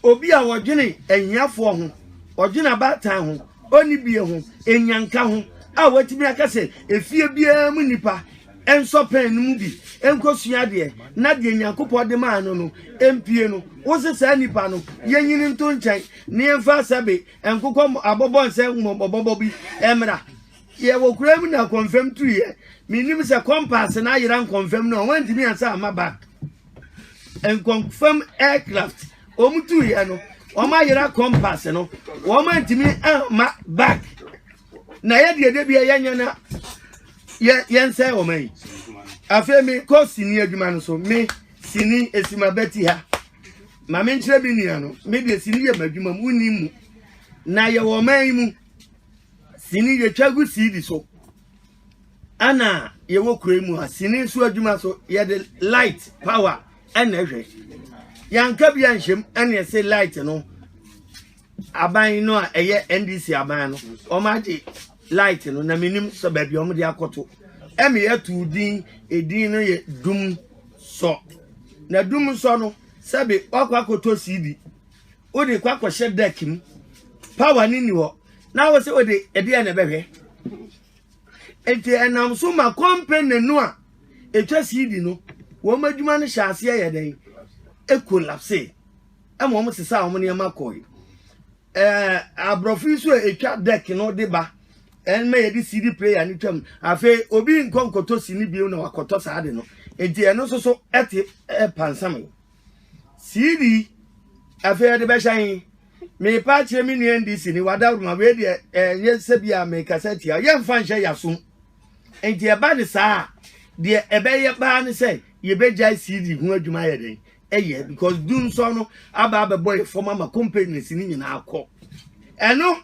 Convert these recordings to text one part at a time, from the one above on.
Obi a ɔdwene ahiafoɔ ho, ɔdwene abaatan ho, ɔnni bie ho, enyanka ho a watumi aka sɛ efie biara mu nipa nsɔ pɛn no mu bi nkɔsua adeɛ na deɛ Nyankopɔn de maa no no mpie no, wose saa nipa no yɛnyini nto nkyɛn na yɛmfa sɛbe nkokɔ abɔbɔ nsɛ mmɔbɔbɔbɔ bi mmra. Yɛwɔ kura mu na kɔmfam tuiɛ. Menim sɛ kɔmpaase no ayera nkɔmfam no a wɔntumi ansa amma back. nkɔnfam aircraft wɔn tu yɛ no wɔn ayera compass no wɔn antumi ama back na yɛ deɛ debi yɛ nyɛ na yɛ yɛn sɛ wɔn ayi afei mi kɔ sini adwuma no so mi sini esima bɛti ha maame nkyerɛ mi nua no mi deɛ sini yɛ ma adwuma mu ni mu na yɛ wɔn ayi mu sini yɛ twa gu siidi so. ɛna yɛwɔ kuro yi mu a sini nso adwuma so yɛde light power ɛna ɛhwɛ yanka bi anhyɛm ɛna ɛsɛ light no aban no a ɛyɛ ndc aban no wɔn agye light no na menim sɛ baabi a wɔde akɔto ɛma yɛtu din edin no yɛ dum sɔ na dum sɔ no sɛbi wakɔ akɔtɔ cd wode kɔ akɔhyɛ deck mu power no nni hɔ na wo sɛ wode ɛdeɛ na ɛbɛhwɛ nti ɛnam so ma company no a ɛtwa cd no wɔn adwuma no hyɛ aseɛ yɛ dɛn ɛkolapse ɛma wɔn sesa wɔn nneɛma kɔe ɛɛ aborɔfo yi so a ɛtwa deck no de ba ɛmɛ yɛ de cd player no twam afei obi nkɔ nkɔtɔ si ne bio na wakɔtɔ saa de no nti ɛno nso so ɛte ɛpansam yi. CD afei ɛde bɛhyɛ yi mepa akyerɛ me nua ndi sini wadaworo ma wei deɛ ɛnyɛ eh, sɛ bi a mekasa tia yɛmfa nhyɛ yɛasom nti ɛba ne saa a deɛ ɛbɛyɛ baa ne sɛ yɛbɛgyae CD ho adwuma yɛ dɛn ɛyɛ because du nsɔ no aba abɛbɔ yɛ fam ama companies no nyinaa kɔ ɛno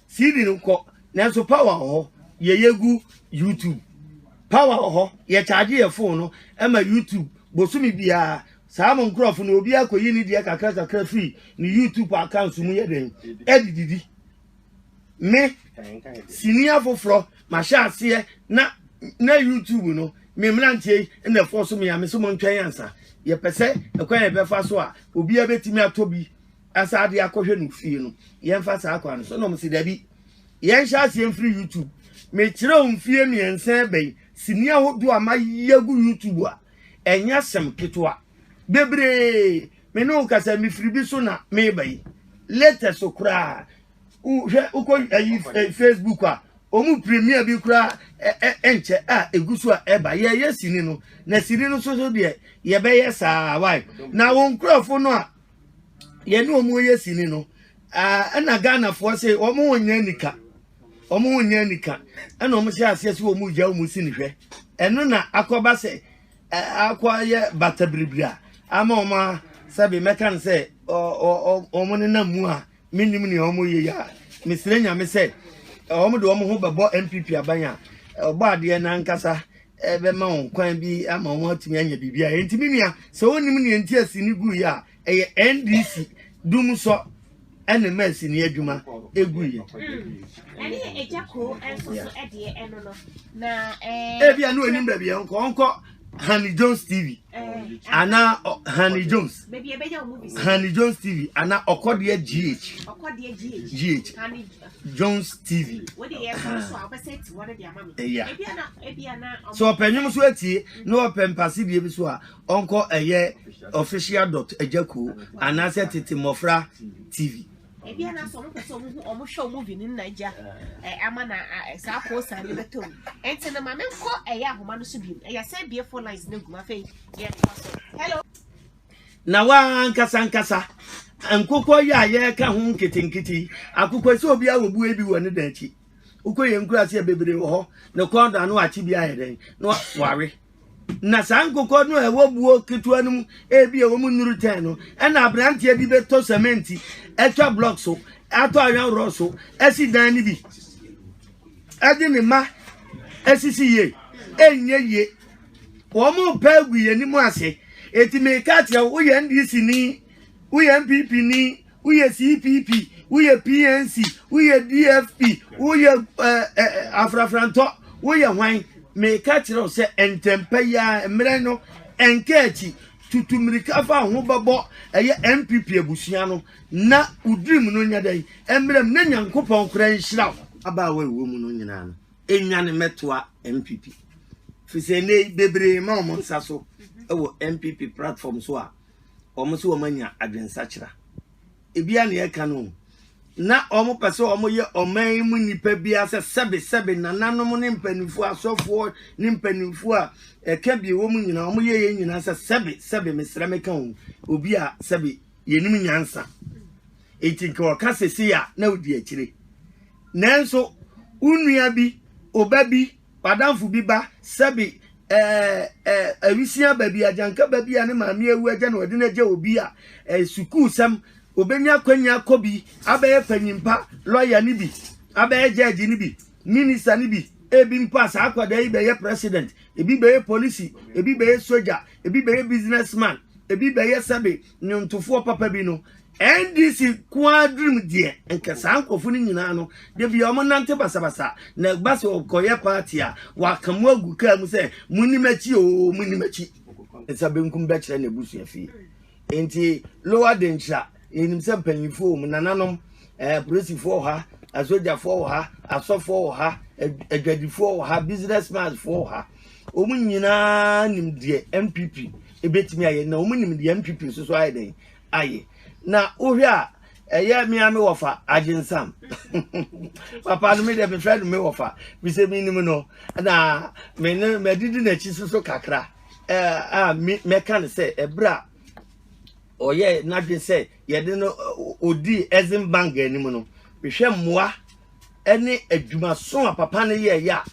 CD no kɔ nanso power wɔ hɔ yɛ yegu YouTube power wɔ hɔ yɛ charge yɛ phone no ɛma YouTube bosome biara saa mo nkurɔfo no obi akɔyi ne deɛ kakra kakra firi ne YouTube account mu yɛ dɛn ɛde didi me sini afoforɔ mahyɛ aseɛ na na YouTube no me mmeranteɛ yi na ɛfoɔ so me a me so mo ntwɛn ansa yɛpɛ sɛ ɛkwan yɛbɛfa so a obiara bɛtumi atɔ bi asan de akɔhwɛ no fie no yɛmfa saa kwan no so na ɔmo si dabi yɛnhyɛ aseɛ mfiri youtube mekyerɛ wo mfie mmiɛnsa bɛyi sini ahodoɔ a mayɛ agu youtube a ɛnyɛ asɛm ketewa bebree me ne wo kasa mefiri bi so na meba yi latest so koraa hwɛ wokɔ ayi eh, facebook a ɔmu premier bi koraa ɛnkyɛ a ɛgu so a ɛba yɛyɛ sini no na sini no so so deɛ yɛbɛyɛ saa wae na wo nkurɔfo no a yɛne wɔn reyɛ sini no ɛna ghanafoɔ se wɔn ho nyɛ anika wɔn ho nyɛ anika ɛna wɔn hyɛ aseɛ sɛ wɔn gya wɔn sini hwɛ ɛno na akɔba sɛ akɔyɛ bata biribiri a ama wɔn a sɛbi mɛka no sɛ wɔn nenam mu a mennim nea ɔmo yɛ yi a mesrɛ nyame sɛ ɔmo de ɔmo ho bɛbɔ npp aban a ɔbɔ adeɛ no ankasa bɛma wɔn kwan bi ama wɔn atumi anya biribi a ɛnti me nua sɛ wonim nea nti asi ne gu yi a ɛyɛ ndc dum sɔ ɛne ma asi ne adwuma ɛgu yi ɛne ɛgya koo ɛnso so ɛdeɛ ɛno no na ɛɛ ebi a ne onim baabi ɛnkɔ ɔnkɔ Honey Jones TV ana Honey Jones Honey Jones TV ana Okodia GH GH Jones TV ɛyà so ɔpɛ nnwom so atie na ɔpɛ mpase deɛ bi so a ɔnkɔ ɛyɛ official dot agyako anaasɛ tete mmɔfra TV. ebi a n'asɔ ɔmo pɛ sɛ ɔmo hu ɔmo hwɛ ɔmo vi ne nna gya ɛ ama na ɛ saa post a ne bɛ tɔ mu ɛnti no maame nkɔ ɛyɛ ahoma no so bi mu ɛyɛ sɛ bie four lines ne gu ma afei yɛ kɔ so hello. na wa nkasa nkasa nkokɔ yi a yɛreka ho nketenkete akokɔ sɛ obi a wɔbue bi wɔ ne dan akyi wokɔ yɛn nkura ase a bebree wɔ hɔ na kɔn do ano akye bi ayɛ dɛn na wawe na saa nkokɔ no a ɛwɔ buo ketewa no mu ebi a wɔn nnuru tɛn no ɛna aberanteɛ bi bɛtɔ sɛmɛnti atwa blɔk so atɔ ayɔnworɔ so asi dan no bi ɛde ne ma asisi yie ɛnyɛ yie wɔn pɛ gu yɛn anim ase eti meka kyerɛ wo woyɛ ndc ni. Woyɛ NPP ni, woyɛ CPP, woyɛ PNC, woyɛ DFP, woyɛ eh, eh, afrafrantɔ, woyɛ hwan. Meka kyerɛ wo sɛ ntɛmpa yi ara mmerɛ no ɛnka akyi tutu mmirika fa ho bɛbɔ ɛyɛ NPP abusua no na wo dream no nyɛ dɛn mmerɛ mu na Nyankopɔn koraa nhyira wo. Abaawa ɛwɔ mu no nyinaa no ɛnya ne mɛtoa NPP. Firi sɛ nnɛ yi bebree ma wɔn nsa so ɛwɔ NPP platform so a wɔn nso wɔn anya adwensakyera ebia nea ɛka no na wɔn pɛ sɛ wɔn yɛ ɔman yi mu nipa bia sɛ sɛbe sɛbe nananom ne mpanimfoɔ asɔfoɔ ne mpanimfoɔ a ɛka bi wɔn nyinaa wɔn yɛ yɛn nyinaa sɛ sɛbe sɛbe mesrɛ meka wɔn obi a sɛbe yɛnim nyansa eti nka wɔka sese a na odi akyire nanso wo nua bi ɔba bi W'adamfo bi ba, sɛbe eh, eh, awisia ba bi, agyanka ba bi a ne maame awu agya na wɔde no agya obi a, eh, sukuusɛm, obenya akwanya akɔ bi, abɛyɛ panyimpa, lɔya no bi, abɛyɛ gyɛɛgye no bi, minista no bi, ebi mpo a saa akwadaa yi bɛyɛ president, ebi bɛyɛ polisi, ebi bɛyɛ sogya, ebi bɛyɛ businessman, ebi bɛyɛ sɛbe nnwontofoɔ papa bi no, NDC nko ara dream deɛ nka saa nkurɔfo no nyinaa no da bia wɔn nante basabasa na ɛba sɛ ɔkɔyɛ party a waka mu agu kaa mu sɛ muni m'akyi oo muni m'akyi nsa benkum bɛkyerɛ na ebusua fie nti lowa de nkyira yɛnim sɛ mpanyinfoɔ wɔ mu nananom ɛɛ polisifoɔ wɔ ha asogyafoɔ wɔ ha asɔfoɔ wɔ ha adwadifoɔ wɔ ha business manfoɔ wɔ ha wɔn nyinaa nim deɛ npp ebetumi ayɛ na wɔn nim deɛ npp nso so ayɛ dɛn aye na wohwɛ a ɛyɛ me a me wɔfa agyensam papa no me deɛ mefrɛ no me wɔfa bisɛ menim no na me ne madidi n'akyi so so kakra a mɛka no sɛ ɛberɛ a ɔyɛ n'adwene sɛ yɛde no ɔdi ɛzen bank anim no mehwɛ mmoa ne adwumaso a papa no yɛɛyɛ a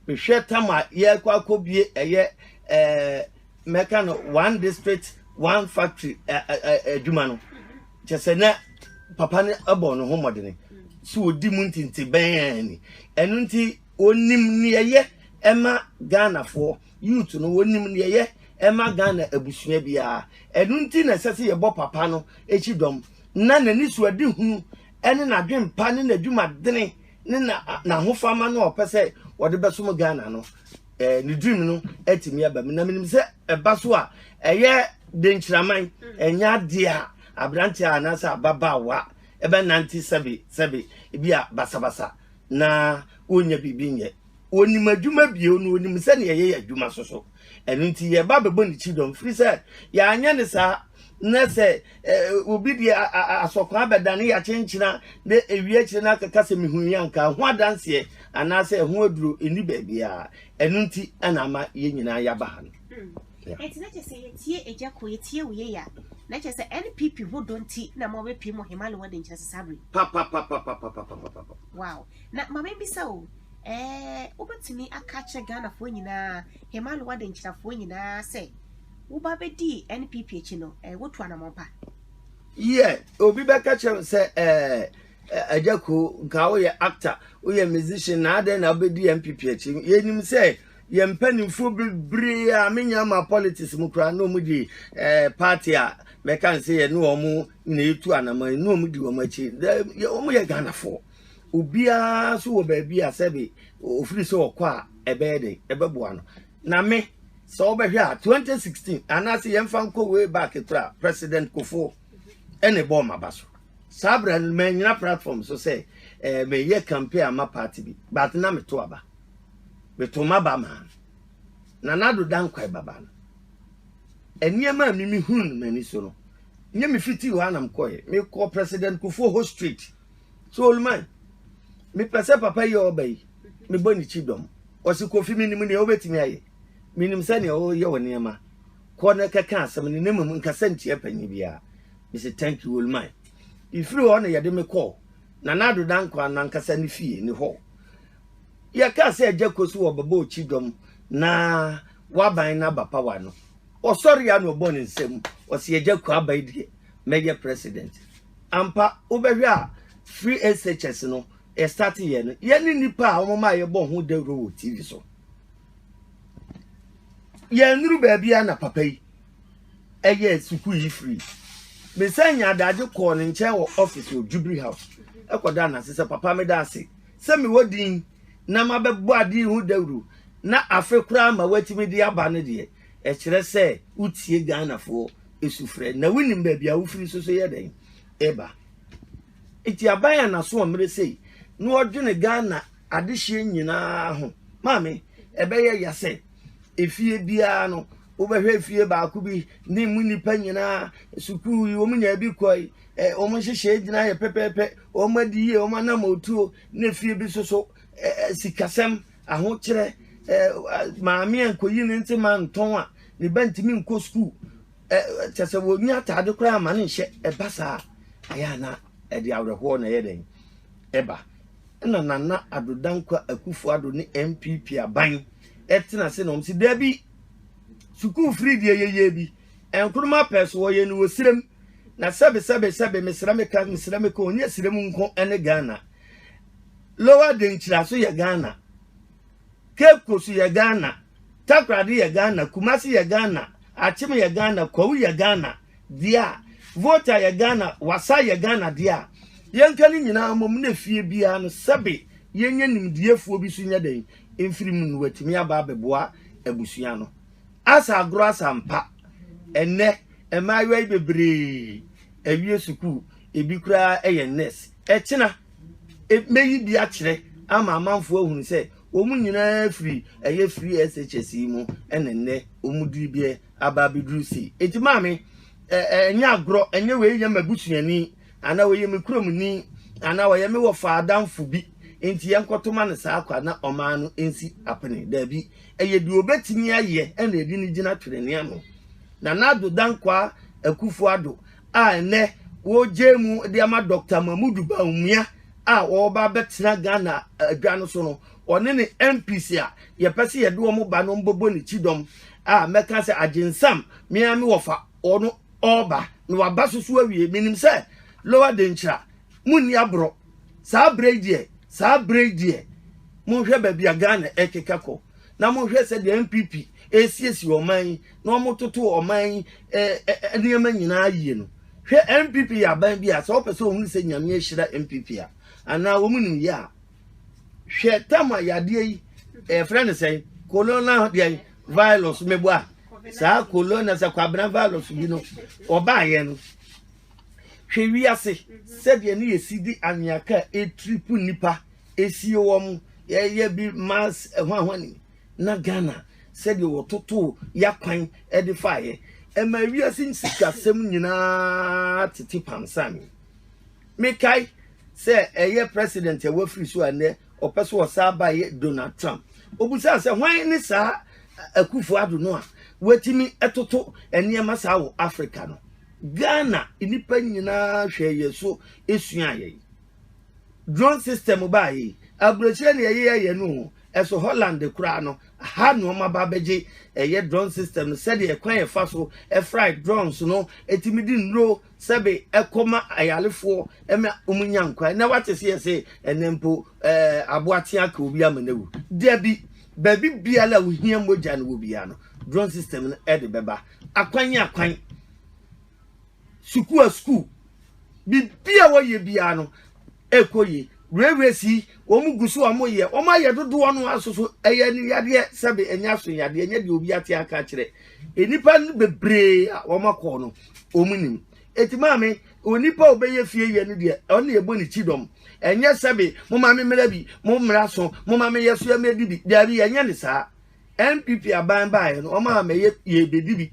mehwɛ tam a yɛkɔ akɔbie ɛyɛ ɛɛ mɛka no one district one factory adwuma no kyɛ sɛ na papa no bɔ ne ho mmɔdene sɛ wɔdi mu ntente bɛn ni ɛno nti wɔnim neɛyɛ ɛma ghanafoɔ youth no wɔnim neɛyɛ ɛma ghana abusua biara ɛno nti na ɛsɛ sɛ yɛbɔ papa no akyi dɔm na n'ani so adi hunu ɛne n'adwempa ne n'adwumadene ne na n'ahofama no a ɔpɛ sɛ ɔde bɛsom Ghana no ɛɛ ne dream no atumi aba mu na menim sɛ ɛba so a ɛyɛ de nkyiraman ɛnyɛ adeɛ a aberanteɛ a anaasɛ ababaawa ɛbɛnante sɛbe sɛbe ebi a basabasa na wɔnnya biribi nyɛ onim adwuma bio na onim sɛnea yɛyɛ adwuma so so ɛno nti yɛba bɛbɔ ne kyi dɔm firi sɛ yɛanyɛ ne saa na sɛ obi deɛ asɔkwan bɛdane yɛakyenkyena na ɛwie akyire no akaka sɛ mehu yi anka ho adanseɛ anaasɛ ɛho aduro ɛni baabiaa ɛno nti ɛna ama yɛn nyinaa yɛaba ha no ɛti na kyɛ sɛ yɛtie agya ko yɛtie wo yɛya na kyɛ sɛ npp ho dɔ nti na ma wɔbɛpie mu hemale wɔde nkyerɛ sesabere wow Na ma memmisa o, ɛɛ, wobɛtumi aka akyerɛ Ghanafoɔ nyinaa, Hemalo Wadenkyirafoɔ nyinaa sɛ woba bɛdii NPP akyi no, ɛɛ, wotu anamɔn pa? Yie, obi bɛka kyerɛ me sɛ, ɛɛ, Agya Koo, nka woyɛ actor, woyɛ musician, na adɛn na wobɛdii NPP akyi? Yɛnim sɛ yɛn mpanimfoɔ bebree a menya ma politics mu koraa na wɔdi ɛɛ party a mɛka no sɛ yɛne wɔn na yɛtu anamɔn yi na wɔdi wɔn akyi. Wɔyɛ Ghanafoɔ. Obiara nso wɔ baabi a sɛbe ofiri sɛ ɔkɔ a ɛbɛyɛ den ɛbɛboa no na me sɛ wobɛhwɛ a 2016 anaasɛ yɛmfa nkɔ way back kora president kofoɔ ɛne bɔɔ maba so saa berɛ no manyina platform so sɛ eh, meyɛ campaign ama party bi but na meto aba meto maba maa no na nado dankwae baba no nneɛma a mimi hunu no m'ani so no nyɛ mefiti hɔ anam kɔɛ mekɔ president kofoɔ hɔ street so oluman mepɛ sɛ papa yi a ɔba yi mebɔ ne kyi dɔm ɔsi kofi mi nim nea ɔbɛtumi ayɛ mi nim sɛ nea ɔyɛ wɔ nneɛma kɔ na kɛkɛ asɛm ne ne mu nkasa ntia panyin biara mesi thank you oluman efiri hɔ na yɛde me kɔɔ na n'ado da nkwa nankasa ne fie ne hɔ yɛka sɛ agya kɔ so wɔ bɛbɔ ɔkyi dɔm na waban na abapawa no ɔsɔre ya na ɔbɔ ne nsam ɔsi agya kɔ aban deɛ mɛyɛ president Ampa wobɛhwɛ a free SHS no yɛ start yɛ no yɛ ne nipa a wɔn ma yɛbɔ ho dawuro wɔ TV so yɛn nuru baabi a na papa yi ɛyɛ sukuu yi free mesan nya adagye kɔɔ ne nkyɛn wɔ office wɔ Jubilee House ɛkɔda na sɛ papa meda ase sɛ mewɔ din na mabɛbɔ ade ho dawuro na afe koraa ma watumi de aba no deɛ Ɛkyerɛ sɛ wotie Ghanafoɔ sufrɛ na wonim baabi a wofiri nso so yɛ dɛn ɛba. Nti aban a n'aso ɔmmerɛ sei na ɔdwene Ghana adehyeɛ nyinaa ho. Maame, ɛbɛyɛ ya sɛ efie biara no wobɛhwɛ efie baako bi ne mu nnipa nyinaa sukuu yi wɔn nyinaa bi kɔ yi wɔn nhyehyɛe gyina yɛ pɛpɛɛpɛ wɔn adi yie wɔn anam otuo na efie bi nso so sikasɛm Ahokyerɛ, Maame a nkoyi ne ntse ma ntɔn a ne ba ntumi nkɔ skuul, kyerɛ sɛ wonnya ataade koraa mma no nhyɛ, ɛba saa a, ɛyɛ a na ɛde awerɛhoɔ na ɛyɛ dɛn? ɛba. Ɛna Nana Addo Dankwa Akufo Addo ne NPP aban tena ase na wɔn se dabi, sukuu firi deɛ yɛyɛ bi, nkroma pɛɛ so wɔyɛ no wɔ serem, na sɛbe sɛbe sɛbe mesrɛ meka mesrɛ meka ɔnyɛ serem nko ne Ghana. Lower de nkyiraso yɛ Ghana. Cape Coast yɛ Ghana. Takoradi yɛ Ghana. Kumasi yɛ Ghana. Akyem yɛ Ghana. Kwawu yɛ Ghana dea. Volta yɛ Ghana. Wassa yɛ Ghana dea. Yɛnka ne nyinaa mmom na fie biara no sɛbe yɛnya nimdiefoɔ bi so nyɛ dɛn mfiri mu na watumi aba abɛboa abusua no. Asa agorɔ asa mpa. Ɛnnɛ mmaayewa yi bebree awie sukuu. Ebi koraa yɛ nurse. Ɛkyena. Mɛyi bi akyerɛ ama amanfoɔ ahunu sɛ wɔn nyinaa firi ɛyɛ free SHS yi mu ɛna nnɛ wɔn diri bi aba abɛduru sei. Eti maame, ɛnyɛ agorɔ, ɛnyɛ wei yɛ m'abusuani anaa ɔyɛ me kuromni anaa ɔyɛ me wɔfa adamfo bi nti yɛnkɔto ma no saa kwa na ɔmaa no nsi apene. Daabi, ɛyɛ deɛ ɔbɛtumi ayɛ ɛna ɛde no gyina twenenee ano. Nana Addo Dankwaa Akufo-Addo a nnɛ wɔregyae mu de ama Dɔkta Mahmudu Bawumia a ɔreba abɛtena Ghana adwa no so no, ɔne ne MPs a yɛpɛ sɛ yɛde wɔn ba no mbɛbɔ ne kyidɔm a mɛka sɛ Agyensam me ara me wɔfa ɔno ɔreba na waba so so awie. Menim sɛ Lower Denkyira monni aborɔ. Saa berɛ yi deɛ, saa berɛ yi deɛ monhwɛ baabi a Ghana rekeka kɔ na monhwɛ sɛdeɛ NPP resiesie ɔman yi. na wɔtoto ɔman yi nneɛma nyinaa yie no hwɛ npp yɛ aban bi a sɛ wɔpɛ sɛ wɔhunu sɛ nyame ahyira npp a anaa wɔn nim yɛ a hwɛ tam a yadeɛ yi ɛfrɛ no sɛn kolona deɛ virus mebo a saa kolona sɛ kwabena virus bi no ɔbaayɛ no hwɛ wiase sɛdeɛ ne yɛsi de anweaka a ɛtiripu nnipa ɛsie wɔn yɛyɛ bi mass ɛho ahoa ne na Ghana sɛdeɛ wɔtotoo y'akwan de faeɛ ɛma wiase nsikasɛm nyinaa tete pansan. Mekae sɛ ɛyɛ president a wafiri so a nnɛ ɔpɛ so ɔsaa baeɛ Donald Trump. Obusaa sɛ hwan ne saa Akufo Addo no a watumi toto nneɛma saa wɔ Africa no. Ghana nnipa nyinaa hwɛɛ yɛn so suaa yɛn. Drone system baa yi, aburokyire na yɛyeyɛ yɛn no o, ɛso Holland koraa no, ha na wɔn aba abɛgye ɛyɛ drone system no sɛdeɛ kwan a yɛfa so fry drones no tumi de nnuro sɛbe kɔ ma ayarefoɔ ma wɔnya nkwa. Ɛnnɛ wate seɛ se ɛnnɛ mpo ɛɛ aboa tea ka obi ama no awu? Dabi, baabi biara a wohia mogya no wɔ biara no, drone system no de bɛba, akwan akwan. sukuu a sukuu, biribi a wɔyɛ biara no ɛkɔ yie. Railways yi wɔn gu so a wɔyɛ, wɔn ayɛ dodoɔ no ara soso ɛyɛ no yadeɛ sɛbe ɛnyɛ aso yadeɛ ɛnyɛ deɛ obi ate aka akyerɛ. Nnipa no bebree a wɔn akɔ no wɔn nim. Eti maame onipa a ɔbɛyɛ fie yɛ no deɛ ɔne ɛbɔ ne ti dɔm. Ɛnyɛ sɛbe mo maame mmara bi, mo mmara so, mo maame yɛ so yɛ mɛ di bi, daabi ɛnyɛ ne saa. NPP aban baeɛ no, wɔn a mɛyɛ yɛbɛdi bi,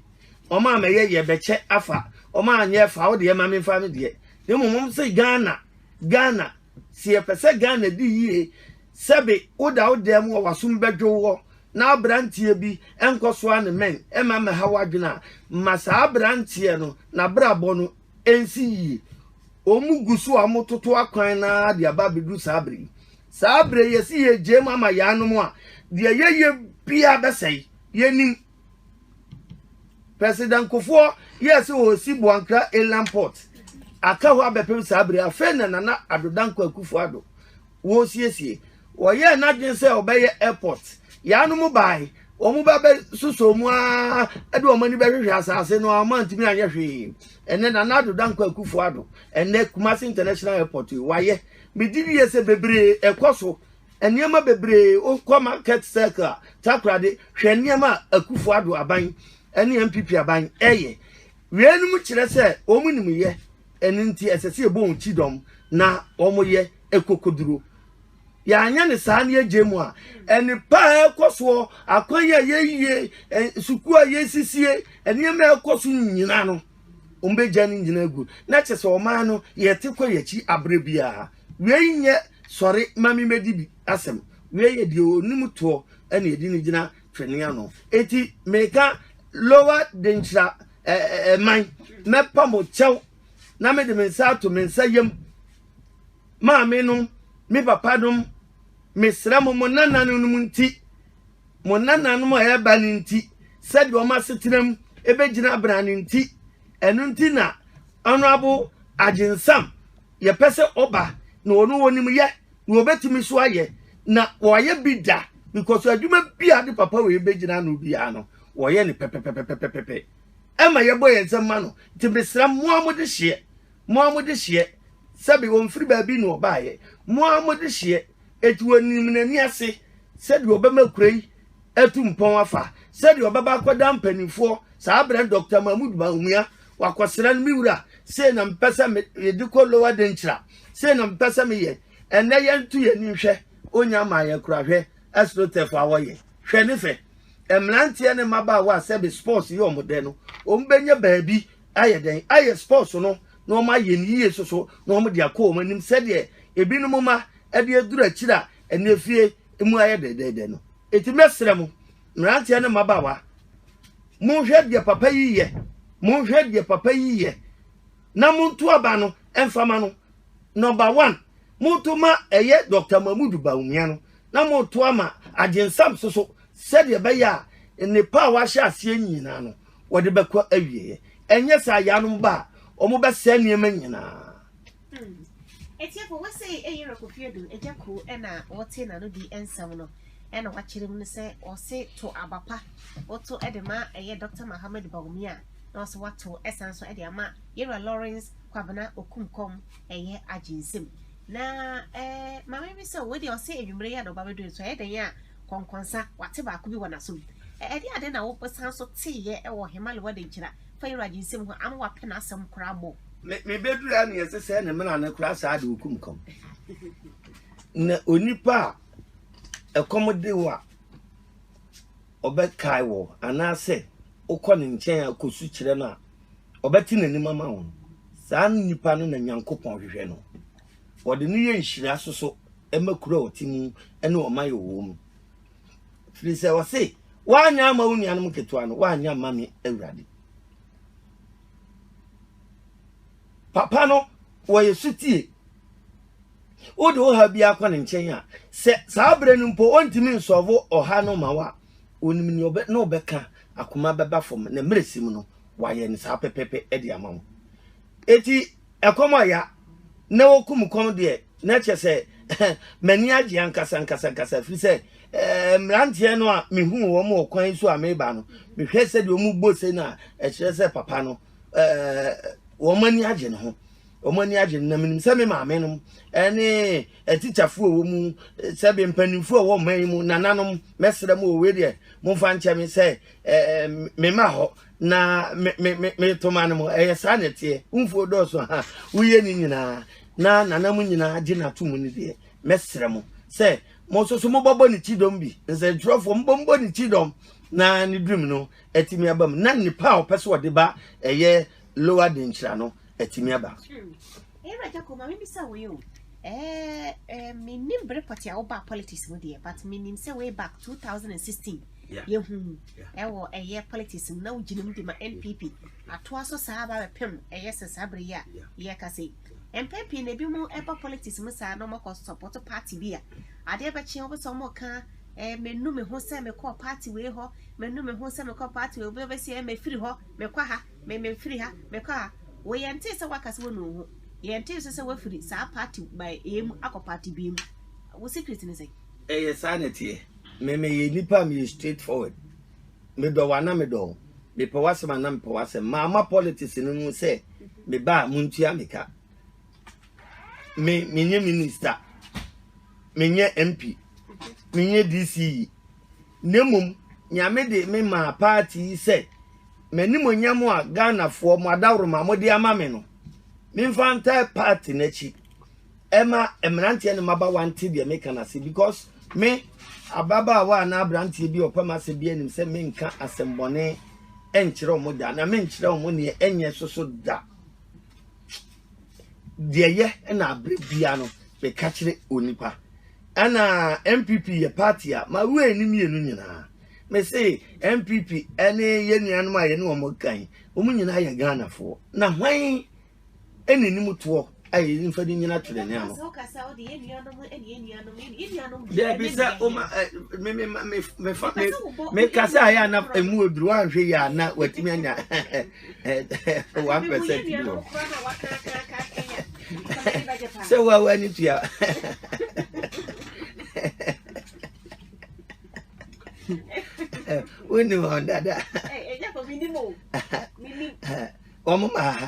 wɔn a mɛyɛ yɛbɛkyɛ afa, wɔn a nyɛ fa wo deɛ ma me nfa me deɛ. Na mmom wɔn sɛ Ghana, Ghana, sɛ yɛpɛ sɛ Ghana di yie, sɛbe woda wo dan mu a w'asom bɛdwo woɔ na aberanteɛ bi nkɔ so a ne mɛn ɛma mmɛha w'adwene a, ma saa aberanteɛ no n'abrabɔ no nsi yie. Wɔn gu so a wɔtoto akwan no ara de aba abɛduru saa berɛ yi. Saa bere yi esi yegyae mu ama yɛanom a, deɛ yɛyɛ biara bɛsɛe. Yɛnnim. President Kufuor yɛɛ sɛ ɔresi Boankra Inland Port. Aka hɔ abɛpem saa bere yi. Afei na Nana Addo Dankwa Akufo-Addo resiesie. Ɔyɛɛ n'adwene sɛ ɔbɛyɛ airport. Yɛanom bae. Wɔba bɛsosɔɔ mu ara de wɔn ani bɛhwehwɛ asase no ara, wɔantumi anyɛ hwee. Ɛnnɛ, Nana Addo Dankwa Akufo-Addo, ɛnnɛ Kumasi International Airport yi, wayɛ. Migye die sɛ bebree ɛkɔ so. Nneɛma bebree, wo kɔ market circle a, Takoradi, hwɛ nneɛma a Akufo Addo aban ɛne NPP aban ɛyɛ. Wei nom kyerɛ sɛ wɔn nim yɛ, ɛno nti ɛsɛ sɛ yɛbɔ wɔn kyidɔm na wɔn yɛ ɛkokoduro. Yɛanyɛ no saa na yɛgyae mu a, ɛnepa a ɛkɔ soɔ, akwan a yɛyie, sukuu a yɛsisie, nneɛma a ɛkɔ so nyina no, wɔbɛgya no nyina agu na kyɛ sɛ ɔman no yɛte kɔ yɛakyi aberɛ biara wei nyɛ sɔre ma me mɛdi bi asɛm wei yɛ deɛ ɔnim toɔ ɛne ɛdi no gyina twene ano enti meka lowa denkyira ɛman mɛpa mo kyɛw na mede me nsa ato me nsa yam maame nom me papa nom Mesrɛ mo, mo nananom nti, mo nananom a ɛreba no nti, sɛdeɛ wɔn asetenam bɛgyina abena no nti, ɛno nti na Honorable Agyensam yɛpɛ sɛ ɔba na ɔno wɔnim yɛ na wɔbɛtumi so ayɛ na wɔayɛ bi da because adwuma bi a de papa wei bɛgyina no biara no wɔyɛ no pɛpɛpɛpɛpɛpɛ ɛma yɛbɔ yɛn nsɛm ma no nti mesrɛ mmoa mo de hyeɛ Mo ara mode hyeɛ. Sɛbe ɔmfiri baabi na ɔbaeɛ. Mo ara mode hyeɛ. Enti wɔnim n'ani ase sɛdeɛ ɔbɛma kuro yi atu mpɔn afa, sɛdeɛ ɔbɛba akɔda mpanimfoɔ, saa berɛ no Dɔkta Mahmood Bawumia, wakɔsra no, Me wura, sei na mepɛ sɛ mede kɔ Lower Denkyira, sei na mepɛ sɛ meyɛ. Ɛnnɛ yɛnto yɛn ani nhwɛ, ɔnnya mmaa yɛn koraa. Hwɛ Astroturf a wɔyɛ. Hwɛ ne fɛ. Mmeranteɛ ne mmabaawa a sɛbe sports yɛ wɔn dɛ no, wɔbɛnya baabi. ayɛ dɛn ayɛ sports no na wɔn ayɛ no yie soso na wɔn de akɔ wɔn anim sɛdeɛ ebinom ma ɛde aduru akyire a ɛne efie mu ayɛ dɛdɛɛdɛ no eti mɛsrɛ mo mmeranteɛ ne mmabaawa monhwɛ deɛ papa yi yɛ monhwɛ deɛ papa yi yɛ na monto aba no mfama no number one monto ma ɛyɛ dr mahmudu baumia no na monto ama agyensam soso sɛdeɛ ɛbɛyɛ a nnepa a wahyɛ aseɛ nyinaa no wɔde bɛkɔ awieɛ ɛnyɛ saa yɛanom ba a wɔbɛsɛe nneɛma nyinaa ɛtiɛfo hmm. wɔ sɛ ɛyere kofie do agya kuo ɛna wɔte n'ano di nsɛm no ɛna wakyerɛ mu no sɛ ɔse to abapa woto ɛde ma ɛyɛ dr mohammed baumia na ɔse wato ɛsan so ɛde ama yɛwura lawrence kwabena okumkɔm ɛyɛ agye nsɛm na ɛɛ eh, maame bi sɛ wɔde ɔse anwummerɛ yɛ na ɔba bɛduru nso ɛyɛ dɛn a Kɔnkɔnsa, wɔate baako bi wɔ n'asom. Ɛdeɛn ade na wosan so teeɛ wɔ Hemali w'adɛnkyira fa Yeraji nsɛm ho a ama woapɛ n'asɛm koraa mmɔ? Me me bɛduru a neɛ ɛsɛ sɛ ne mena no koraa saa de ɔkum kɔm na onipa a ɛkɔm de wo a ɔbɛkae wɔ anaasɛ wokɔ ne nkyɛn a kɔsu kyerɛ no a ɔbɛte n'anim ama wo no saa nipa no na nyankopɔn hwehwɛ no Wɔde no yɛ nhyira soso ma kuro a ɔte mu ne ɔman a ɔwɔ mu. Firi sɛ ɔse, woanyɛ ama wo nuanom nketewa no, woanyɛ ama me Awurade. Papa no, wɔyɛ sotie. Wode wo ha biara kɔ ne nkyɛn a, sɛ saa berɛ no mpo ɔntumi nsɔvo ɔha no ma wo a, ɔnim ne ɔbɛ ne ɔbɛka akoma bɛba fam na mmerɛsim no wayɛ ne saa pɛpɛpɛ de ama wo. Enti ɛkɔm a ya na wɔkum kɔm deɛ, na kyɛ sɛ m'ani agye ankasankasankasa, firi sɛ mmeranteɛ no a mehuu wɔn wɔ kwan so a mereba no, mehwɛ sɛdeɛ wɔn bɔ se no a, ɛkyerɛ sɛ papa no wɔn ani agye ne ho. Wɔn ani agye no na menim sɛ me maame nom ne atikyafoɔ a wɔn mu sɛ bɛ mpanimfoɔ a wɔn man yi mu nananom mɛsrɛ mu wɔ wei deɛ momfa nkyɛ me sɛ me ma hɔ Na me me me me toma no mo ɛyɛ saa na ɛteɛ wumfuo dɔɔso ha woyɛ ne nyinaa na nana mu nyinaa gye na to mu ne deɛ mɛsrɛ mo sɛ mo nso so mobɛbɔ ne kyidɔm bi nsɛntwerɛfoɔ mobɔ mobɔ ne kyidɔm na ne dream no atumi aba mu na nipa a ɔpɛ sɛ ɔde ba ɛyɛ lower denkyira no atumi aba. Ɛwura Gyako, ma mebisa wei o. Eh, eh, menim bere pɔte a wobaa politics mu deɛ, but menim sɛ way back 2016 Yeah. yɛhu mu Yeah. ɛwɔ ɛyɛ politics mu na wogyina mu de ma NPP atoa so saa aba bɛpem ɛyɛ sɛ saa bere yi a Yeah. yɛka sɛ yi. Mpɛn pii na ebi mu ɛba politics mu saa na ɔmakɔ support party bi a adeɛ bɛkye wobɛ sɛ ɔmɔka eh, menu me ho sɛ mekɔɔ party wei hɔ menu me ho sɛ mekɔɔ party wei wobɛsi ɛ mefiri hɔ mekɔ ha Me me firi ha me kɔ ha wo yɛn tee sɛ waka sɛ wɔnu wo ho yɛn tee nso sɛ wafiri saa party by A mu akɔ party B mu wo secret ne sɛn. Ɛyɛ saa na ɛteɛ. Me meyɛ nipa a meyɛ straight forward. Medɔ wo a na medɔ wo. Mepɛ w'asɛm a na mepɛ w'asɛm. Mamma politics no mu sɛ meba a montua me ka. Me menyɛ minister. Menyɛ MP. Menyɛ DCE. na mmom Nyame de me maa party yi sɛ m'animuonyam a Ghanafoɔ mo adaworoma mode ama me no, memfa ntae party no akyi ɛma mmeranteɛ ne mmabawa nte deɛ meka no ase because me ababaawa anaa aberanteɛ bi ɔpɛ m'asɛm bi anim sɛ menka asɛmmɔne nkyerɛ wɔn da na menkyerɛ wɔn neɛ ɛnyɛ soso da. deɛ yɛ ɛna abere bia no meka kyerɛ onipa ɛna npp yɛ party a ma wura ni mmienu nyinaa mese npp ɛne yɛ nuanom a yɛne wɔn kan wɔn nyinaa yɛ ghanafoɔ na hwan ɛne nim toɔ a yɛde nfa de nyina twerɛ ne ano daabi sɛ woma mekasa ayɛ ana ɛmu aduru anhwɛ yɛ ana watumi anya one percent bi wɔ sɛ wo a woani tua wonim wɔn dada wɔn maa ha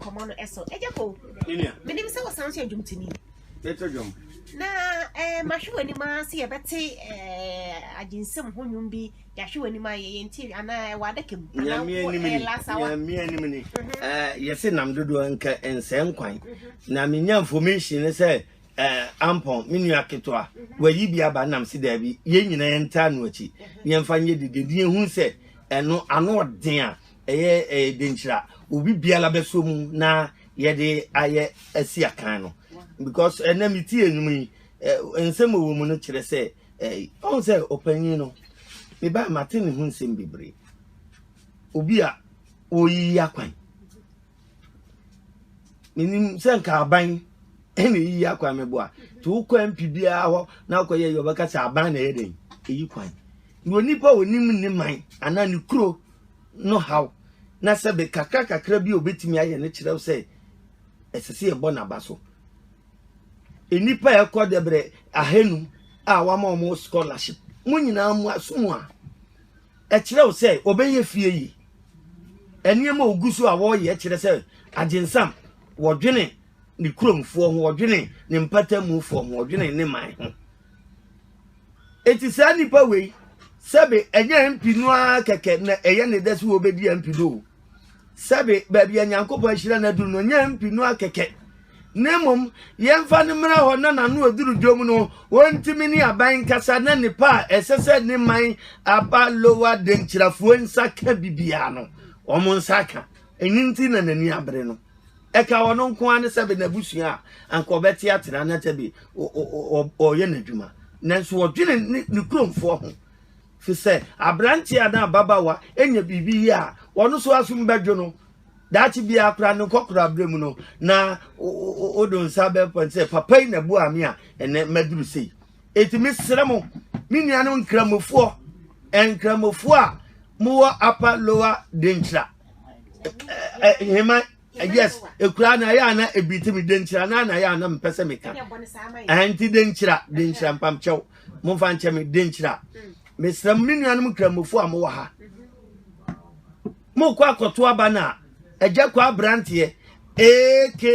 nkɔmɔ no ɛso ɛgya ko menim sɛ wɔsan nso adwumtini ɛtɔ dwom na eh, mahwɛ w'anim a sɛ yɛbɛte eh, agyensɛm ho nnwom bi Yɛahwɛ w'anim a yɛyɛ nti anaa ɛwɔ adaka mu anaa wɔ ɛyɛ lasawa. Nyame anim ni. Mhm. Yɛse nam dodoɔ nka nsɛe nkwan. Mhm. Na menya information ne sɛ ampɔn me nua ketewa mhm. wayi bi aba nam se daabi yɛn nyinaa yɛntaa no akyi yɛmfa nyɛ dede ne yɛhu sɛ ɛno ano ɔden a ɛyɛ denkyira obi biara bɛsɔ mu na yɛde ayɛ asi akan no because ɛnɛ metie nnwom yi nsɛm wɔ mu no kyerɛ sɛ Ɛɛ, ɔn sɛ ɔpanyin no, me ba mate ne ho nsɛm bebree. Obi a ɔreyiyi akwan. Menim sɛ nka aban ɛna eyiyi akwan mɛboa. Te wokɔ MP biara hɔ na akɔyɛ yɛ ɔbɛka sɛ aban na ɛyɛ dɛn eyi kwan. Na onipa a onim ne man anaa ne kuro no haw na sɛbe kakra kakra bi a obetumi ayɛ no kyerɛw sɛ ɛsɛ sɛ yɛbɔ n'aba so. Nnipa a ɛkɔ dɛbrɛ ahanum a wɔama wɔn scholarship mo nyinaa mo aso mu a ɛkyerɛ wo sɛ wɔbɛyɛ fie yi nneɛma a ogu so a wɔreyɛ kyerɛ sɛ agyensam wɔdwene ne kuromfoɔ ho wɔdwene ne mpatamufoɔ ho wɔdwene ne man ho eti saa nipa wei sɛbe ɛnyɛ mpi no ara kɛkɛ na ɛyɛ ne dɛ so wɔbɛdi mpi no o sɛbe baabi a Nyankopɔn ahyira no aduru no, nyɛ mpi no akɛkɛ, na mmom yɛmfa no mmra hɔ na n'ano aduru dwom no, wɔntumi ne aban nkasa na nnipa a ɛsɛ sɛ ne man aba Lowa Denkyirafoɔ nsa ka bibiara no, wɔn nsa aka. Ɛno nti na n'ani abere no. Ɛka ɔno nko ara ne sɛbe n'abusua a anka ɔbɛte atena na sɛbe ɔyɛ n'adwuma. Nanso ɔdwene ne kuromfoɔ ho. Fi sɛ aberanteɛ anaa ababaawa nya biribi yie a, ɔno nso asom bɛdwo no. Daakye biara koraa ne nkɔkoraberɛ mu no, na wode nsa bɛpa sɛ papa yi na boaa me a ɛnɛ maduru sei. Enti mesrɛ mo, me nuanom nkramofoɔ, nkramofoɔ a mowɔ Upper Lower Denkyira, Heman, Eh, yes ekura na ya na ebiti mi denkyira na na ya na mpɛ sɛ meka ɛnti eh, denkyira denkyira mpamkyɛw momfa nkyɛ me denkyira mesrɛ m me nuanom nkramofo a mowɔ ha mokɔ akɔto aba no a agya kɔ aberanteɛ aka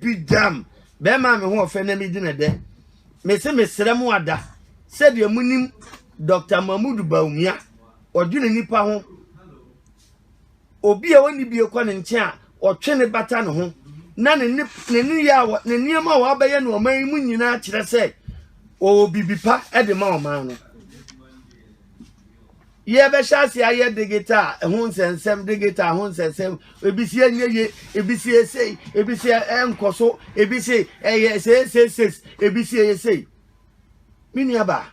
bi dam bɛrima a me ho ɔfɛ na medi ne dɛ mese mesrɛ mo ada sɛdeɛ monim dr mahmud baumia ɔdwene nipa ho Obi a ɔnni bie kɔ ne nkyɛn a, ɔtwe ne bata ne ho, na ne nneyɛe a ne nneɛma a wabɛyɛ no ɔman yi mu nyinaa kyerɛ sɛ ɔwɔ biribi pa de ma ɔman no. Yɛbɛhyɛ ase ayɛ digital ho nsɛnsɛm, digital ho nsɛnsɛm, ebi si ɛnyɛ ye, ebi si ɛsei, ebi si ɛnkɔ so, ebi si ɛyɛ seesei, ebi si ɛyɛ sei. me nua ba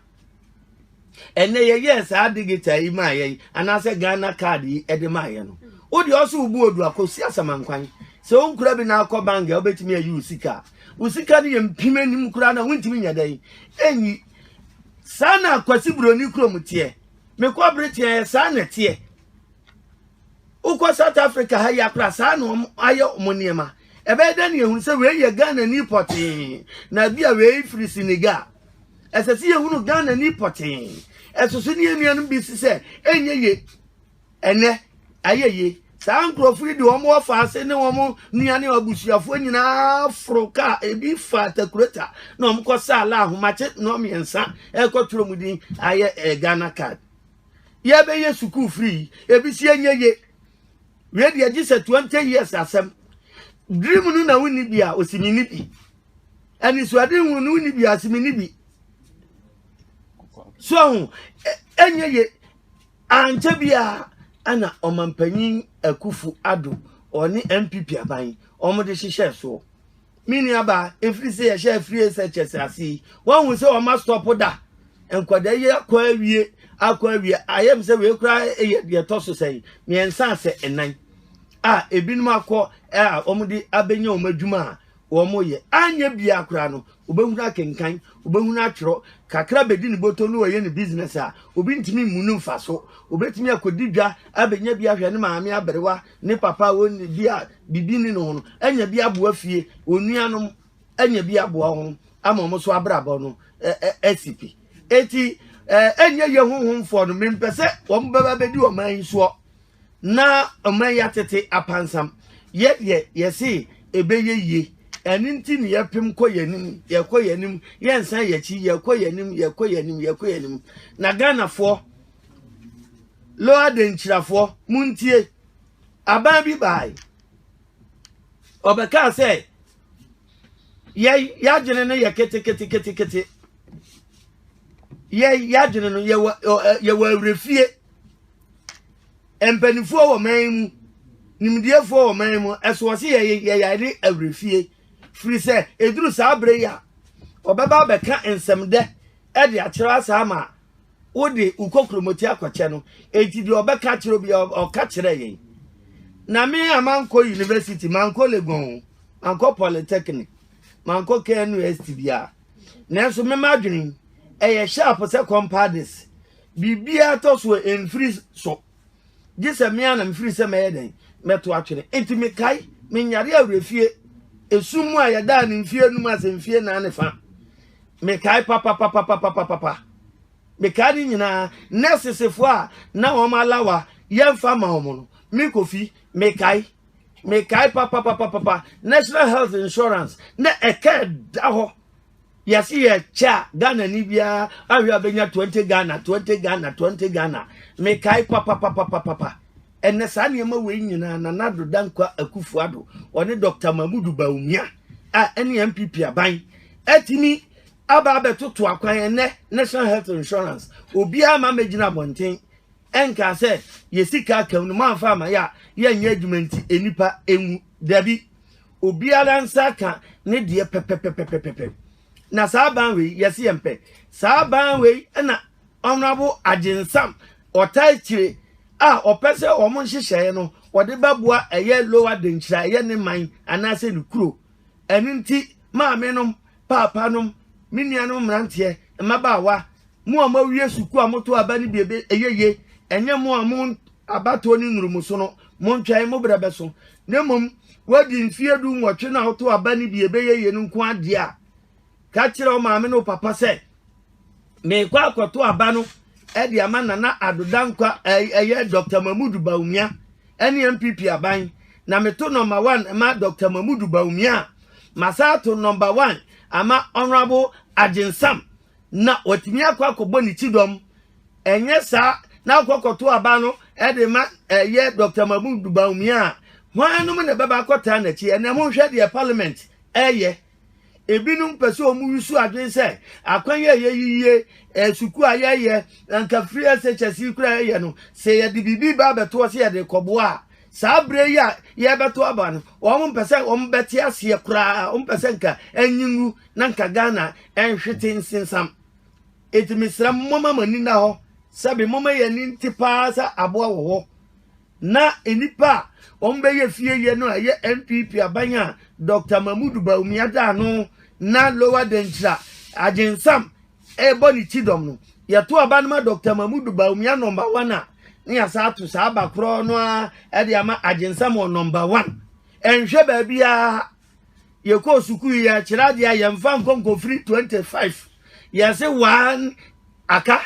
ɛnɛ yɛyɛɛ saa digital yi maa yɛn anaasɛ ghana card yi ɛde maa yɛn no wode ɔso wobu odu akɔsi asamankwan sɛ wonkura bi na akɔ bank a wobɛtumi ayi wo sika wo sika no yɛ mpim anim koraa na wontumi nyɛ dɛn ɛnyi saa na akwasi buroni kurom teɛ mekɔ bere teɛ saa na teɛ wokɔ south africa ha yi akora saa na wɔn ayɛ wɔn nneɛma ɛbɛyɛ dɛ na yɛhunu sɛ wei yɛ ghana ni pɔtee na bi a wei firi senegal ɛsɛ sɛ yɛhunu ghana ni pɔtee ɛsoso ne yɛnuanom bi si sɛ ɛnyɛ ye ɛnɛ ayɛ ye saa nkurɔfo yi de wɔn wɔfa ase ne wɔn nua ne abusuafoɔ nyinaa foro kaa ebi fa takurota na wɔn kɔ saa la ahomakye nnɔɔ mmiɛnsa ɛkɔtwerɛ mu din ayɛ ɛɛ ghana card yɛbɛyɛ sukuu firi yi ebi si ɛnyɛ ye wei deɛ gye sɛ twenty years asɛm dream no na wonni bi a osimi ni bi anisoade hu no wonni bi a osimi ni bi so ho ɛnyɛ ye ankyɛ bi a ɛna ɔmampanyin akufu ado ɔne npp aban wɔn de hyehyɛ soɔ. Me nuabaa, ɛfiri sɛ yɛhyɛ afiri sɛ kyɛ sɛ ase yi, woahu sɛ wɔma stɔpo da nkwadaa yi akɔ awie akɔ awie ayɛ m sɛ wei koraa yɛ deɛ ɛtɔ so sɛn mmiɛnsa sɛ ɛnan a ebinom akɔ a wɔde abɛnya wɔn adwuma a wɔyɛ anyɛ biara koraa no wobɛhunu akenkan wobɛhunu atwerɛ kakra bɛdi ne bɔtɔ no wɔyɛ ne business a obi ntumi mmu no mfa so obɛtumi akɔdi dwa abɛnya bi ahwɛ ne maame aberewa Ne papa wɔn bi a biribi ni ne ho no anya bi aboa fie wɔn nuanom anya bi aboa wɔn ama wɔn so abrabɔ no ɛsi pi eti ɛnyɛ yɛ honhomfoɔ no mempɛ sɛ wɔn bɛba bɛdi ɔman yi soɔ na ɔman yi atete apansam yɛ deɛ yɛse ɛbɛyɛ yie ɛne nti ne yɛpem kɔ yɛn anim yɛkɔ yɛn anim yɛnsan yɛn akyi yɛkɔ yɛn anim yɛkɔ yɛn anim yɛkɔ yɛn anim na ghanafoɔ Lo adankyirafoɔ, montie! Aban bi bae. Ɔbɛkaa sɛ, yɛn yɛadwene no yɛ keteketeketekete. Yɛn yɛadwene no yɛwɔ yɛwɔ awerɛfie. Mpanimfoɔ wɔ man mu, nimdeɛfoɔ wɔ man mu, ɛso wɔ se yɛyɛ yɛyɛ ne awerɛfie. Firi sɛ, ɛduru saa berɛ yi a, ɔbɛba abɛka nsɛmdɛ de akyerɛ asaa ma wode wo kɔkuromoti akɔkyɛ no enti deɛ ɔbɛka kyerɛ obi ɔka kyerɛ yɛn na me a mankɔ university mankɔ legon o mankɔ polytechnic mankɔ knust biara nanso mema adwene ɛyɛ sharp sɛ compadis biribiara tɔ so ɛmfiri so gye sɛ me ara na mefiri sɛ mɛyɛ dɛn mɛto atwene enti mekae menyare awerɛfie esum mu a yɛdaa ne mfie anum ase mfie nan ne fa mekae papapapapapapa mekae ne nyinaa nɛsesefoɔ a na wɔn alawa yɛmfa ma wɔn no me kofi mekae mekae papapapapa national health insurance na ɛka ɛda hɔ Yɛse yɛ kyɛ a Ghana ni biara ahwɛ a bɛnya 20 Ghana 20 Ghana 20 Ghana mekae papapapapapa ɛnɛ saa nneɛma wei nyinaa Nana Addo Dankwa Akufo Addo ɔne Dr. Mahmudu Bawumia a ɛne NPP aban atumi aba abɛtoto akwan ɛnɛ National Health Insurance obiara ma mɛgyina abɔnten ɛnkaa sɛ yɛsika akam no mamfa ama yɛ a yɛnyɛ adwuma nti nnipa ɛnwu dabi obiara nsa aka ne deɛ pɛpɛpɛpɛpɛpɛ na saa ban wei yɛsi yɛn pɛ saa ban wei na honorable agyensam ɔtaa kyire a ɔpɛ sɛ wɔn nhyehyɛeɛ no wɔde bɛboa ɛyɛ lower denkyira ɛyɛ ne man anaasɛ ne kuro ɛno nti maame nom paapanom, me nuanom mmeranteɛ, mmabaawa, mo a moawie sukuu a moto aba no bi ebe ɛyɛ ye, ɛnyɛ mo a mo abatoɔ ne nnuru mo so no, montwɛn, mo berɛ bɛso, na mmom woadi mfeɛ du nwɔtwe no a woto aba no bi ɛbɛyɛ ye no nko ara deɛ a, ka kyerɛ wo maame ne wo papa sɛ, Merekɔ akɔto aba no de ama Nana Addo Dankwa, ɛyɛ Dɔkta Mahmood Bawumia ne NPP aban. Na meto nɔmba wan ma Dɔkta Mahmood Bawumia a, masan ato nɔmba wan ama Honourable Agyen Sam na watumi akɔ akɔbɔ ne kyidɔm. Ɛnyɛ saa na wokɔ akɔto aba no de ma ɛyɛ Dɔkta Mahmood Bawumia a, hwan nom na ɛbɛba akɔtaa n'akyi? Ɛnnɛ monhwɛ deɛ Parliament reyɛ. Ebinom pɛ sɛ wɔwusiw adwene sɛ akwan yi a ɛyɛ yiye, eh, sukuu a yɛyɛ, anka free SHS yi koraa yɛyɛ no, sɛ yɛde biribi ba abɛtoɔ sɛ yɛde rekɔboa a, saa berɛ yi a yɛrebɛto aba no, wɔn mpɛ sɛ wɔn bɛte aseɛ koraa, wɔn mpɛ sɛ nka anyi ngu na nka Ghana nhwete nsensam. Enti mesrɛ mo, momma mo ani nna hɔ, sɛbe momma yɛn ani nte paa sɛ aboa wɔ hɔ Na nnipa a wɔbɛyɛ fie yɛ no a ɛyɛ NPP aban a Dɔkta Mahmudu Bawumia da ano na Lower Denkyira Agyensam rebɔ ne kyidɔm no, yɛto aba no ma Dɔkta Mahmudu Bawumia nɔmba wan a, na yɛasan ato saa aba korɔ no ara de ama Agyensam wɔ nɔmba wan. Ɛnhwɛ baabiara. yɛkɔɔ sukuu yi a kyerɛ adeɛ a yɛmfa nkɔ nkɔfiri 25 yɛse waa aka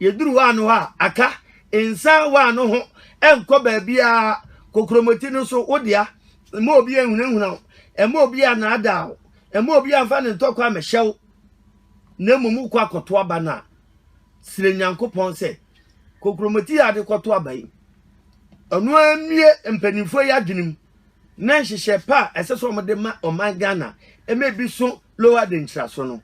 yɛduru waa no hɔ a aka nsan waa no ho ɛnkɔ baabiaa kokromoti no so wodea ɛma obi ahunahuna wo ɛma obi anaadaa wo ɛma obi amfa ne ntɔkwa amɛhyɛ wo na mmom wokɔ akɔto aba no a srɛ nyankopɔn sɛ kokromoti yɛ ade kɔto aba yi ɔno amie mpanimfoɔ yi adwenem na nhyehyɛ pa a ɛsɛ sɛ wɔde ma ɔman ghana ɛma ebi so lower de nkyerɛso no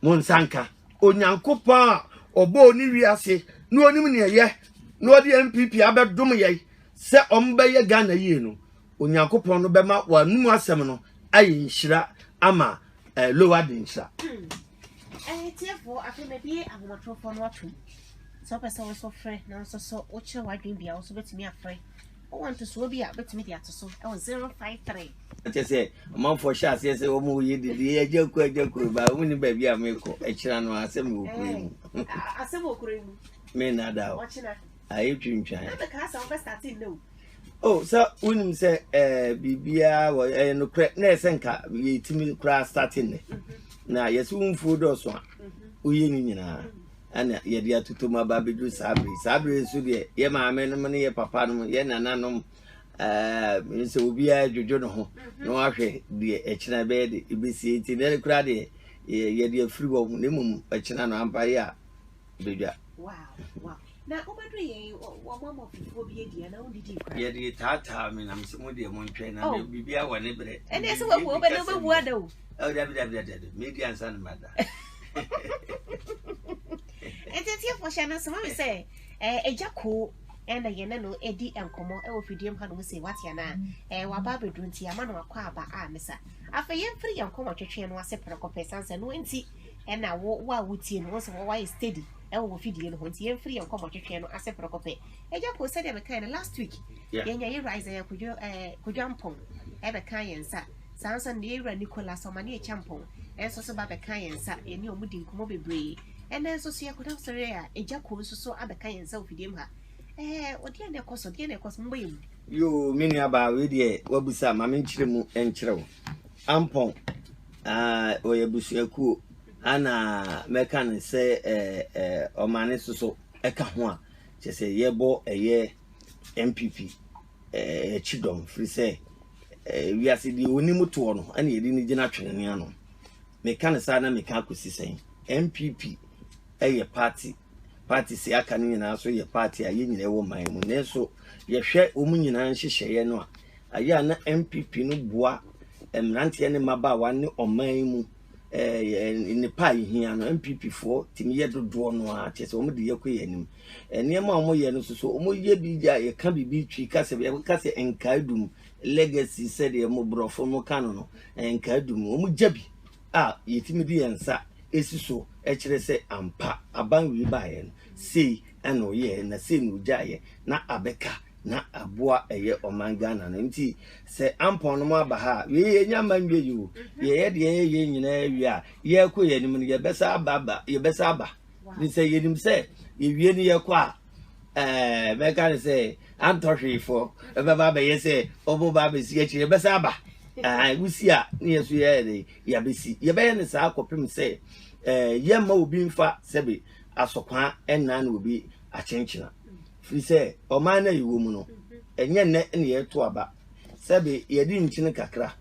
mo nsa nka onyankopɔn a ɔbɔɔ ne wiase na onim nea ɛyɛ na ɔde npp abɛdom yɛ sɛ ɔmbɛyɛ ghana yie no onyankopɔn no bɛma wɔanum asɛm no ayɛ nhyira ama eh, lower de nhyira Ɛɛ tiefoɔ, afei mabue ahomatorofoɔ no atom. Sɛ wopɛ sɛ wo nso frɛ na wo nso so wokyerɛ w'adwene bi a, wo nso wobɛtumi afrɛ. Wowɔ ntosoɔ bi a, wobɛtumi de ato so ɛwɔ 053. kyɛ sɛ ɔmanfoɔ hyɛ aseɛ sɛ wɔn yɛ dede agya kuro agya kuro ba wɔn ni baabi a mekɔ akyira no asɛm wɔ kuro yi mu Ɛɛ, a- asɛm wɔ kuro yi mu. me nada o Ɔkyena. ayɛ twintwan Na bɛkaa sɛ wobɛstate nnɛ o. o oh, sɛ wonim sɛ eh, biribiaa wɔ ɛyɛ eh, nokorɛ na ɛsɛ nka yɛtumi koraa starte nnɛ mm-hmm. na yɛsɛ wo mfuo dɔɔso a mm-hmm. woyɛ no nyinaa ɛna yɛde atotom aba bɛduru saa bere saa bere nso deɛ yɛ maame nom ne yɛ papa nom yɛ nana nom eh, sɛ obiara dwodwo ne ho mm-hmm. na wahwɛ deɛ ɛkyena bɛyɛ de ɛbɛsie nti na ɛne koraa deɛ yɛde afiri wɔ ho na mmom ɛkyena no ampa yɛ a badwa. Yɛde taataa me nam sɛ mo deɛ mo ntwɛn na oh. biribi awɔ ne berɛ. Ɛne sɛ wabu ɔbɛ na wobɛwu ada o. Ɛwɔ dabi dabi dabi dabi medi ansa no mada. Ɛnti atiefoɔ hyɛ no soma me sɛ ɛgya koo ɛna yɛne no ɛdi nkɔmmɔ ɛwɔ fidie mu hanom sɛ watea no a ɛɛ waba abɛduru nti ama no akɔ aba a mesa afei yɛmfiri yɛn nkɔmmɔ twetwe no ase prɛkɔpɛ san sɛ no nti ɛna wo wo a wotie no wosɛ wɔayɛ steady ɛwɔ wɔ fidie no ho nti yɛmfiri yɛn nkɔmmɔ twetwee no ase prɛko pɛ agya ko sɛdeɛ mekae no last week yɛnya yɛ rise ɛyɛ kodwo ɛɛ kodwa mpɔn ɛbɛka yɛn nsa saa nso na yɛwura nicolas ɔma ne ɛkya mpɔn ɛnso so ba bɛka yɛn nsa yɛne ɔmo di nkɔmmɔ bebree ɛnɛ nso so yɛkɔda sɔre a agya ko nso so abɛka yɛn nsa wɔ fidie mu ha ɛɛ ɔdeɛ na ɛkɔ so deɛ na ɛkɔ so mbɔ yɛ mu yoo me nuabaa wei deɛ wabusa ma menkyerɛ mu nkyerɛ wo ampɔn Aah ɔyɛ abusuakuo a na mɛka no sɛ ɛɛ ɛɛ ɔmane soso ɛka ho a kyɛ sɛ yɛbɔ ɛyɛ NPP ɛɛ akyi dɔm firi sɛ ɛɛ wiase deɛ onim toɔ no ɛna yɛde ne gyina twene ne ano meka no saa na meka akɔsi sɛn NPP ɛyɛ party Parties a aka no nyinaa nso yɛ party a yɛn nyinaa wɔ man mu. Nanso yɛhwɛ wɔn nyinaa nhyehyɛeɛ no a, ayɛ a na NPP no boa mmeranteɛ ne mmabaawa ne ɔman mu nnepa a ɛhia no NPP foɔ tumi yɛ dodoɔ no ara kyɛ sɛ wɔn de yɛkɔ yɛn anim nneɛma a wɔyɛ no soso wɔn yɛ bi gya yɛka biribi twi ka sɛ yɛka sɛ nkaadum legacy sɛdeɛ mo borɔfo mo ka no no nkaadum wɔn gya bi a yɛtumi de yɛn nsa si so kyerɛ sɛ ampa aban wei baeɛ no, sei na ɔyɛɛ na sei na ɔgyaeɛ na abɛka na aboa ɛyɛ ɔman Ghana no. Nti sɛ ampɔn no mo aba ha a, wei yɛnya mma nwie yi o. Yɛyɛ deɛ yɛyɛ nyinaa wie a, yɛrekɔ yɛn anim no, yɛbɛsa aba aba, yɛbɛsa aba. Sɛ yɛnim sɛ yɛwie no yɛkɔ a, Ɛɛ, mɛka no sɛ antɔ hwee fɔ. Ɛbɛba abɛyɛ sɛ ɔmo ba abɛsi akyire, ɛbɛsa aba. Ɛɛ, wosi a ne yɛ so yɛyɛ dɛ, yɛabɛsi. Yɛbɛyɛ no saa kɔpem sɛ ɛɛ, yɛmma obi mfa sɛbe asɔkwaa nna ne obi akyenkyena. Firi sɛ ɔman no a yɛwɔ mu no, ɛnyɛ nnɛ na yɛreto aba. Sɛbe yɛde nkyene kakra.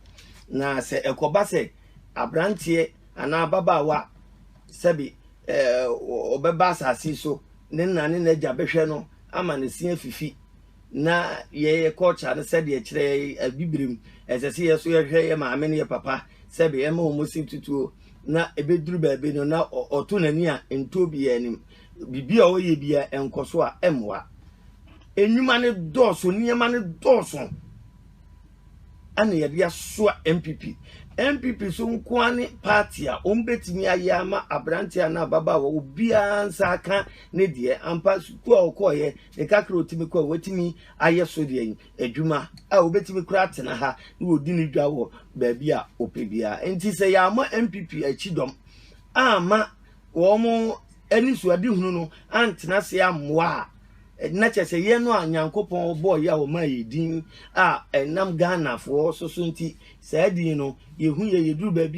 Na sɛ ɛkɔba sɛ abranteɛ anaa ababaawa sɛbe ɛɛ, ɔbɛba asase so ne na ne n'agya bɛhwɛ no ama ne se afifi na yɛyɛ culture no sɛdeɛ ɛkyerɛ abibirim ɛsɛ sɛ yɛ so yɛhwɛ yɛ maame ne yɛ papa sɛbe ɛma wɔn si tutuo na ɛbɛduru baabi no na ɔto n'ani a ntuo bi yɛ anim biribi a ɔyɛ bi a ɛnkɔ so a ɛmmoa nnwuma no dɔɔso nneɛma no dɔɔso na yɛde asoa npp. Npp so nko ara ne party a wɔbɛtumi ayɛ ama aberanteɛ anaa ababaawa obiara nsa aka ne deɛ ampa sukuu a ɔkɔɔyɛ ne kakra ɔtumi kɔ a watumi ayɛ so deɛ adwuma a wɔbɛtumi kora atena ha na wɔdi ne dwa wɔ baabi a ɔpɛ biara nti sɛ yɛama npp akyi dɔm ama wɔn anisoadehunu no antena ase ammoa a Na kyerɛ sɛ yɛn no a Nyankopɔn bɔɔ yɛ a ɔmaa yɛ din a ɛnam Ghanafoɔ so so nti saa din no yɛhu yɛ yɛduru baabi